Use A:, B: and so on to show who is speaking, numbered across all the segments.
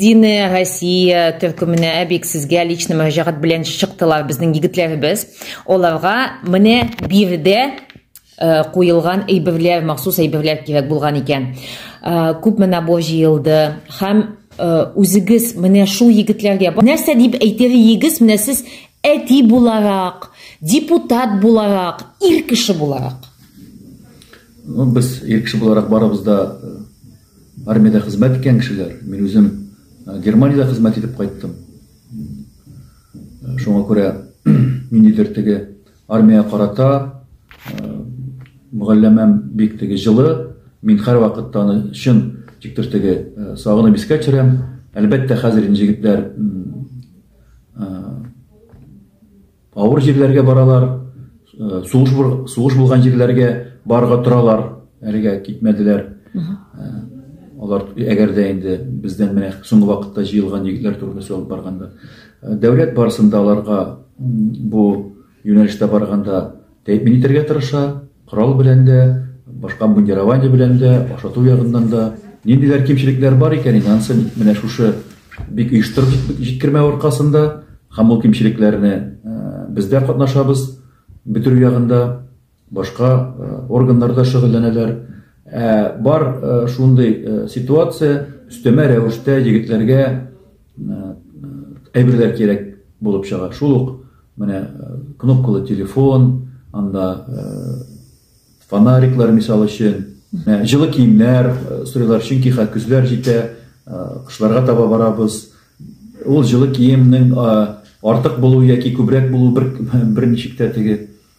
A: Единая Россия төркеменә әбик сезгә лично мөрәҗәгать белән чыктылар безнең егетләребез. Оларга менә бирдә э, куелган әйберләр, махсус әйберләр кирәк булган икән. Э, күпме набор җыелды һәм э, үзегез менә шул егетләргә нәрсә дип әйтер егез менә сез әти буларак, депутат буларак, ир кеше буларак? Ну, без ир кеше буларак барыбыз да Армиядә хезмәт иткән кешеләр, мин үзем Германиядә хезмәт итеп кайттым. Шуңа күрә ниндидер теге армия карата мөгалләмәм бик теге җылы, мин һәрвакытта аны чын тиктер теге сагынып искә төшерәм. Әлбәттә, хәзер инде җегетләр Авыр җирләргә баралар, сугыш сугыш булган җирләргә барга торалар, әлегә китмәделәр. Алар әгәр дә инде бездән менә соңгы вакытта җыелган егетләр турында сөйләп барганда, дәүләт барысында аларга бу юнәлештә барганда Тәэмин итәргә тырыша, корал белән дә, башка обмундирование белән дә, ашату ягыннан да. Ниндидер кимчелекләр бар икән инде, анысы менә шушы бик оештырып җиткермәү аркасында һәм ул кимчелекләрне без дә катнашабыз бетерү ягында, башка органнар да шөгыльләнәләр. Бар шундый ситуация, өстәмә рәвештә егетләргә әйберләр кирәк булып чыга. Шул ук Менә кнопкалы телефон, анда фонариклар мисал өчен, җылы киемнәр сорыйлар, чөнки хәзер көзләр җитә, кышларга таба барабыз. Ул җылы киемнең артык булуы яки күбрәк булуы бер берничек тә теге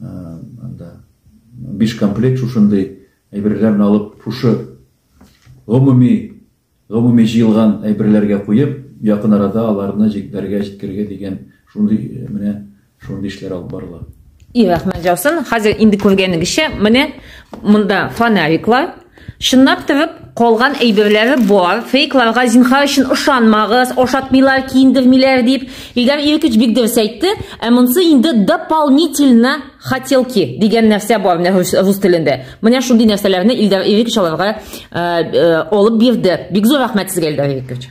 A: Анда биш комплект шушындый әйберләрне алып, шушы гомуми гомуми җыелган әйберләргә куеп, якын арада аларны җитләргә җиткергә дигән шундый э, менә шундый эшләр алып барыла. И рәхмәт җавсын. Хәзер инде күргәнегезчә, менә монда фонариклар, Чынлап тырып калган әйберләре бар. Фейкларга зинхар өчен ышанмагыз, ашатмыйлар, киендермиләр дип. Илдар Иркич бик дөрес әйтте. Ә монсы инде дополнительно хотелки дигән нәрсә бар менә рус телендә. Менә шундый нәрсәләрне Илдар Иркич аларга э, э, алып бирде. Бик зур рәхмәт сезгә Илдар Иркич.